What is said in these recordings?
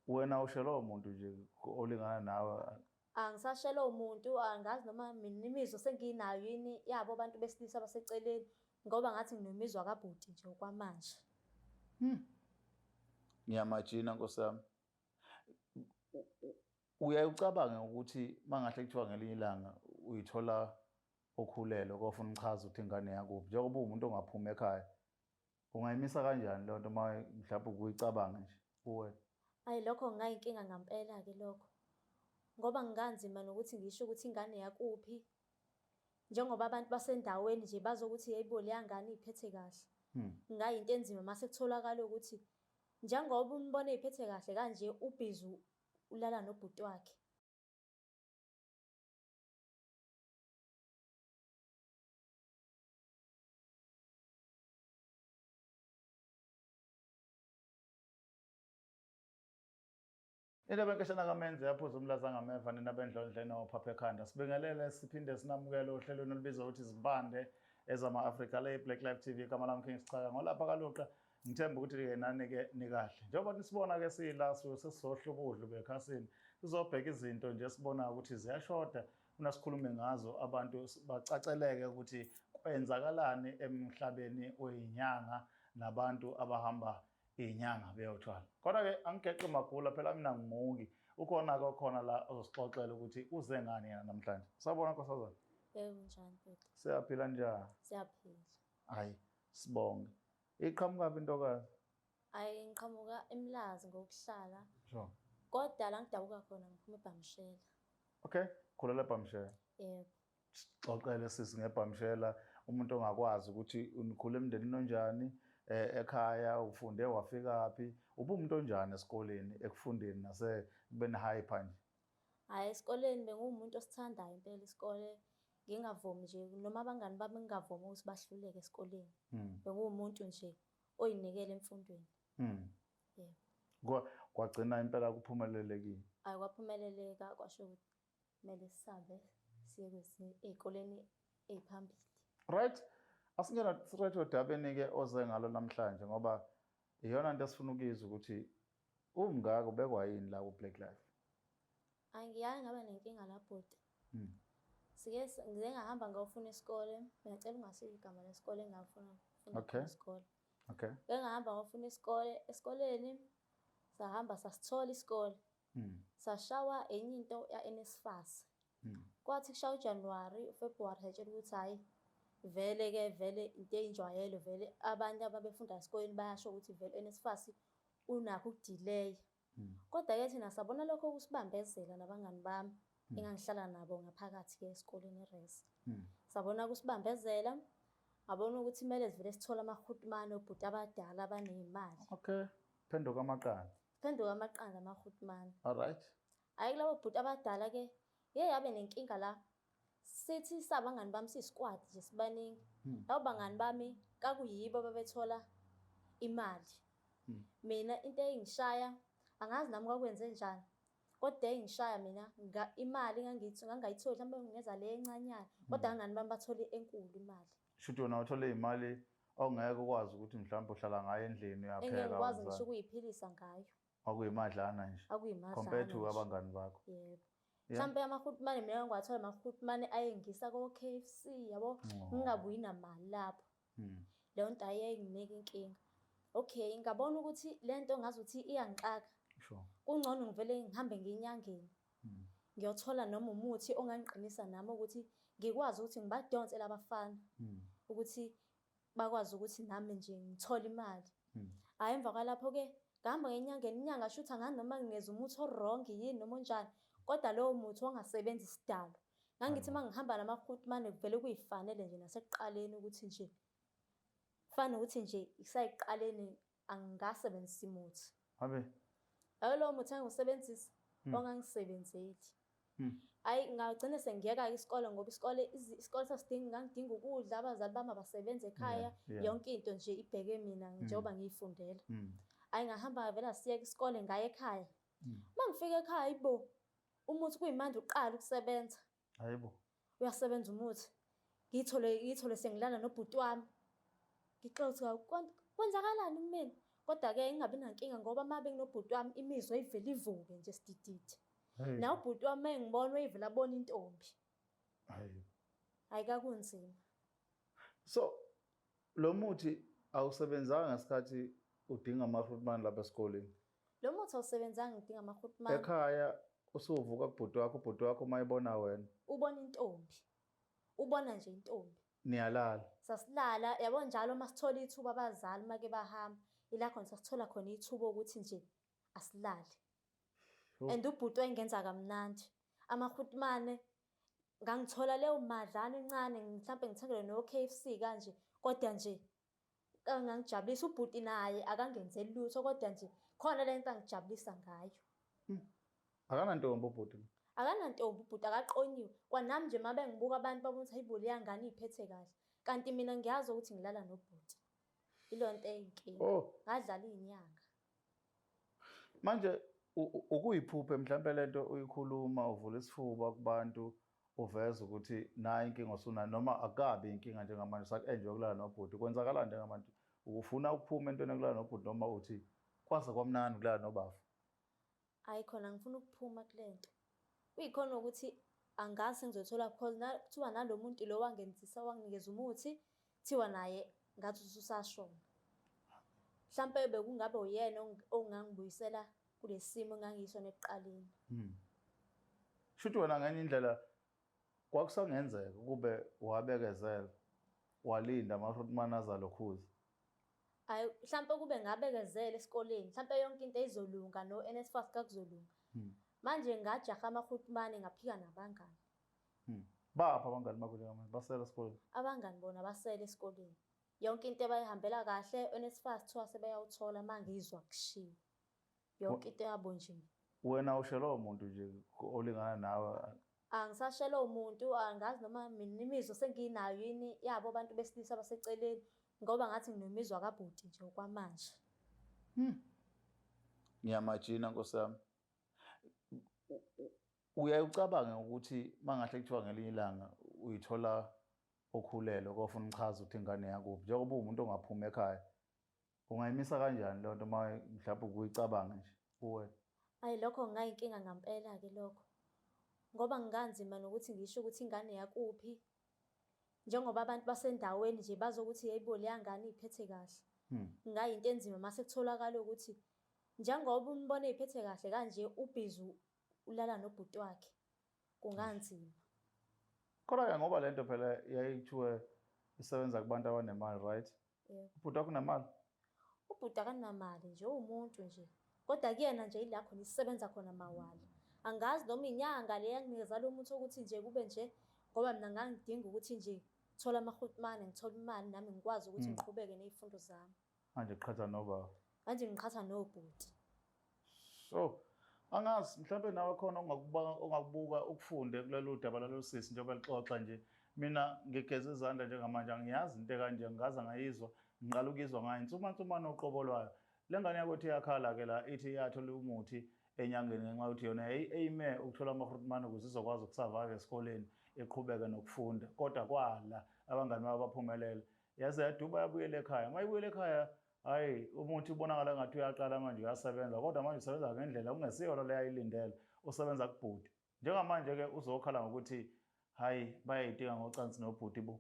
Wena ushelwa umuntu nje olingana nawe. Angisashelwa umuntu, angazi noma mina imizwa senginayo yini yabo abantu besilisa abaseceleni ngoba ngathi nginomizwa kabhuti nje okwamanje. Hmm. Ngiyamajina Nkosi yami. Uyaye ucabange ukuthi mangahle kuthiwa ngelinye ilanga uyithola okhulelwe kofuna uchaza ukuthi ingane yakuphi njengoba uwumuntu ongaphumi ekhaya Ungayimisa kanjani lento uma mhlawumbe ukuyicabanga nje kuwena? Ayi lokho ngingayinkinga ngampela ke lokho. Ngoba ngikanzima nokuthi ngisho ukuthi ingane yakuphi. Njengoba abantu basendaweni nje bazokuthi yeyibo leyangane iphethe kahle. Hmm. Ngingayinto enzima mase kutholakala ukuthi njengoba umbona iphethe kahle kanje ubhizi ulala nobhuti wakhe. Indaba enkeshana kaMenzi yaphuza umlaza ngameva nina bendlondle nophaphe ekhanda. Sibingelele siphinde sinamukele ohlelweni olubizwa ukuthi Izibande ezama-Afrika le Black Life TV igama lami King Sichaka ngolapha kaluqa ngithemba ukuthi-ke nani-ke nikahle njengoba nisibona-ke siyila suke sesizohla ubudlu bekhasini sizobheka izinto nje esibonayo ukuthi ziyashoda Funa sikhulume ngazo abantu bacaceleke ukuthi kwenzakalani emhlabeni weyinyanga nabantu abahamba iyinyanga beyothwala. Kodwa-ke angigeqi magula phela mina ngimuki. Ukhona-ke okhona la ozosixoxela ukuthi uze ngani yena namhlanje. Sabona nkosazana. Yebo njani bhuti? Siyaphila njani? Siyaphila. Hayi sibonge. Iqhamuka phi intokazi? Ayi ngiqhamuka eMlazi ngokuhlala. Sure. Kodwa la ngidabuka khona ngiphuma eBhamshela. Okay, khulela eBhamshela. Yebo. Xoxele sisi ngeBhamshela umuntu ongakwazi ukuthi unikhule emndenini onjani eh, ekhaya ufunde wafika phi ubumuntu onjani esikoleni ekufundeni nase kubeni hyper nje. Hayi esikoleni bengumuntu osithandayo impela isikole ngingavumi nje noma abangani bami ngingavumi ukuthi bahluleke esikoleni. Hmm. Bengumuntu nje oyinikela emfundweni mm. yebo kwagcina impela kuphumelelekile ayi kwaphumeleleka kwasho ukuthi kumele sisabe siye kwezinye ey'koleni ey'phambili right asingena right odabeni-ke oze ngalo namhlanje ngoba iyona nto esifuna ukuyizwa ukuthi Umngaka ubekwa yini la ku Black Life? Angiyanga ngaba nenkinga la bhuti. Mm. Sike ngize ngahamba ngawufuna isikole, ngiyacela ungashiya igama lesikole engafuna ukufuna okay. isikole. Okay. Bengahamba ngawufuna isikole, esikoleni sahamba sasithola isikole. Mm. Sashawa enye into ya NSFAS. Mm. Kwathi kushaya uJanuary, uFebruary satshela ukuthi hayi vele ke vele into eyinjwayelo vele abantu ababefunda esikoleni bayasho ukuthi vele uNSFAS unakho ukudileya. Mm. Kodwa ke thina sabona lokho kusibambezela nabangani bami mm. engangihlala nabo ngaphakathi ke esikoleni eRes. Mm. Sabona kusibambezela abona ukuthi kumele sivele sithole amahutmane obhuti abadala abanezimali. Okay. Phenduka amaqanda. Phenduka amaqanda amahutmane. All right. Hayi kulabo bhuti abadala ke ngeke abe nenkinga la sithi sabangani bami siyisikwadi nje sibaningi hmm. labo bangani bami kakuyibo babethola imali hmm. mina into eyingishaya angazi nami kwakwenze njani kodwa engishaya mina imali ngangithi ngangayitholi mhlawumbe ngingeza le encanyana hmm. kodwa ngani bami bathole enkulu imali shuthi wona uthole imali ongeke ukwazi ukuthi mhlawumbe uhlala ngayo endlini uyapheka ngeke ukwazi ngisho ukuyiphilisa ngayo kwakuyimadlana nje kwakuyimadlana compared to abangani bakho yebo mhlawumbe amahutmane mina ngiwathola amahutmane ayengisa ko-k f c yabo ngingabuyi namali lapho hmm. leyo nto ayenginika inkinga okay ngabona ukuthi le nto ngazuthi iyangixaka kungcono ngivele ngihambe ngiyinyangeni hmm. ngiyothola noma umuthi ongangiqinisa nami ukuthi ngikwazi ukuthi ngibadonse labafana hmm. ukuthi bakwazi ukuthi nami nje ngithole imali hmm. hhayi emva kwalapho-ke ngihamba ngenyangeni inyanga shutha ngani noma ngingeza umuthi orongi yini noma onjani kodwa lowo muthi ongasebenzi isidalo ngangithi uma ngihamba namakhutmane kuvele kuyifanele nje nasekuqaleni ukuthi nje kufana nokuthi nje kusayekuqaleni angingasebenzisi muthi abe ayo lowo muthi engiwusebenzisa hmm. ongangisebenzeli hmm. ayi ngagcine sengiyeka isikole ngoba isikole isikole sasidinga ngangidinga ukudla abazali bami abasebenza ekhaya yonke into nje ibheke mina hmm. njengoba ngiyifundela ayi ngahamba ngavela siyeka isikole ngaye ekhaya uma ngifika ekhaya ibo umuthi kuyimanje uqala ukusebenza Hayi bo. Uyasebenza umuthi. Ngiyithole ngiyithole sengilana nobhuti wami. Ngixoxa ukuthi hawu kwan- kwenzakalani kumina. Kodwa ke ingabi nankinga ngoba uma benginobhuti wami imizwa ivele ivuke nje sidididi. Hey. Nawe ubhuti wami uma engibona uyivele abone intombi. Hayi. Hayi kakunzima. So lo muthi awusebenzanga ngesikhathi udinga ama-fruit man lapha esikoleni. Lo muthi awusebenzanga ngidinga amahut mama. Ekhaya usuvuka kubhuti wakho ubhuti wakho uma ebona wena. Ubona intombi. Ubona nje intombi. Niyalala. Sasilala yabo njalo uma sithola ithuba abazali make bahamba. Ila khona sasithola khona ithuba ukuthi nje asilale. And ubhuti wayengenza kamnandi. Amahutmane ngangithola leyo madlana encane mhlambe ngithengele no KFC kanje kodwa nje angangijabulisa ubhuti naye akangenzeli lutho kodwa nje khona le nto angijabulisa ngayo hmm. akanantombi ubhuti akanantombi ubhuti akaqonyiwe kwanami nje uma bengibuka abantu babonisa hayi boli yangane iyiphethe kahle kanti mina ngiyazi ukuthi ngilala nobhuti ilo nto eyinkinga oh. ngadlala iy'nyanga manje ukuyiphupha mhlawumbe lento uyikhuluma uvula isifuba kubantu uveza ukuthi nayi inkinga osunayo noma akabi inkinga njengamanje usaku-enjoy kulala nobhuti kwenzakala njengamanje ufuna ukuphuma entweni yokulala nobhuti noma uthi kwaze kwamnandi kulala nobafa Hayi khona ngifuna ukuphuma kulento. Kuyikhona ukuthi angazi sengizothola because na kuthiwa nalomuntu lo wangenzisa wanginikeza umuthi kuthiwa naye ngathi ususashona. Mhlampe bekungabe uyena ong- ongangibuyisela kulesimo engangisona ekuqaleni. Shuthi wena ngenye indlela Kwakusangenzeka ukube wabekezela walinda amaRootman azalokhuza. Hayi mhlampe ukube ngabekezela esikoleni mhlampe yonke into izolunga no NSFAS kakuzolunga. Hmm. Manje ngajaha amaRootman ngaphika nabangani. Hmm. Bapha abangani bakho njengamanje basela esikoleni. Abangani bona basela esikoleni. Yonke into ebayihambela kahle NSFAS kuthiwa sebeyawuthola mangizwa kushiwo. yonke into yabo nje wena ushelwa umuntu nje olingana nawe angisashelwa umuntu angazi noma mina imizwa senginayo yini yabo abantu besilisa abaseceleni ngoba ngathi nginomizwa kabhuti nje okwamanje hmm. ngiyamajina nkosi yami uyaye ucabange ukuthi mangahle kuthiwa ngelinye ilanga uyithola okhulelwe kofuna uchaza ukuthi ingane yakubi njengoba uwumuntu ongaphumi ekhaya Ungayimisa kanjani lento uma mhlawumbe ukuyicabanga nje kuwena? Ayi lokho ngingayinkinga ngampela ke lokho. Ngoba ngikanzima nokuthi ngisho ukuthi ingane yakuphi. Njengoba abantu basendaweni nje bazokuthi yeyibo leyangane iphethe kahle. Hmm. Ngingayinto enzima mase kutholakala ukuthi njengoba umbone iphethe kahle kanje ubhizi ulala nobhuti wakhe. kunganzima kodwa ke ngoba lento phela yayithiwe isebenza kubantu abanemali right yeah. ubhuti wakho unemali ubhuti akanamali nje uwumuntu nje kodwa kuyena nje ila khona isebenza khona mawala angazi noma inyanga le yanginikeza lo muntu ukuthi nje kube nje ngoba mina ngangidinga ukuthi nje thola amahutmane ngithola imali nami ngikwazi ukuthi hmm. ngiqhubeke ney'fundo zami Manje qhatha nobaba. Manje ngiqhatha nobhuti. So, angazi mhlawumbe nawe khona ongakuba ongakubuka ukufunde kulelo daba lalo sisi njengoba lixoxa nje. Mina ngigeza izandla njengamanje angiyazi into kanje ngaza ngayizwa ngiqala ukuyizwa ngayo insuma nsuma noqobo lwayo. Lengane yakwethu iyakhala ke la ithi iyathola umuthi enyangeni ngenxa yokuthi yona eyime ukuthola amahrutmane ukuze izokwazi ukusurvive esikoleni iqhubeke nokufunda kodwa kwala abangani babo baphumelela yaze yaduba yabuyela ekhaya uma ibuyela ekhaya hayi umuthi ubonakala ngathi uyaqala manje uyasebenza kodwa manje usebenza ngendlela kungesiyona leyo ayilindele usebenza kubhuti njengamanje-ke uzokhala ngokuthi hhayi bayayitika ngocansi nobhuti bo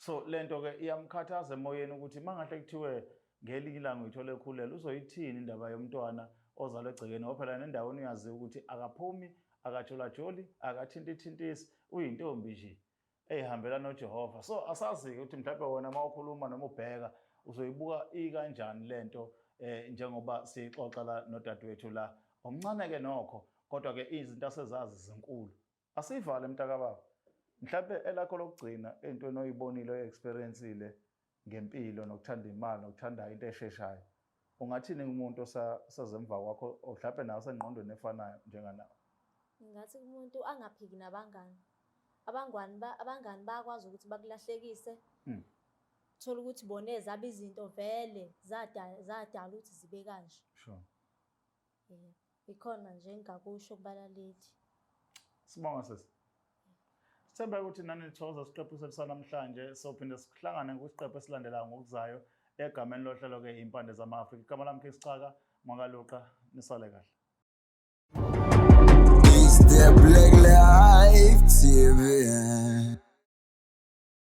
so le nto-ke iyamkhathaza emoyeni ukuthi uma ngahle kuthiwe ngelinye ilanga uyithole ekhulele uzoyithini indaba yomntwana ozalwe egcekeni ngoba phela nendaweni uyaziwa ukuthi akaphumi akajolajoli akathintithintisi uyintombi nje eyihambela noJehova so asazi-ke ukuthi mhlawumbe wona uma ukhuluma noma ubheka uzoyibuka ikanjani le nto um njengoba siyixoxa la nodadewethu la omncane-ke nokho kodwa-ke izinto asezazi zinkulu asiyivale mntakababa mhlawumbe elakho lokugcina entweni oyibonile oyi-experiencile ngempilo nokuthanda imali nokuthanda into esheshayo ungathini kumuntu osazemva kwakho mhlawumbe nawe sengqondweni efanayo njenganawe ngathi kumuntu angaphiki nabangani abangani ba abangani bayakwazi ukuthi bakulahlekise hmm. thola ukuthi boneza abizinto vele zadala zadala ukuthi zibe kanje sure Yebo. Ikhona nje engingakusho kubalaleli. Sibonga sisi. Sithemba ukuthi nani nithokoza isiqephu sethu sanamhlanje sophinde sihlangane kwisiqephu esilandelayo ngokuzayo egameni lohlelo ke impande zama-afrika igama lami ke sixaka mwakaluqa nisale kahle It's the Black Life TV.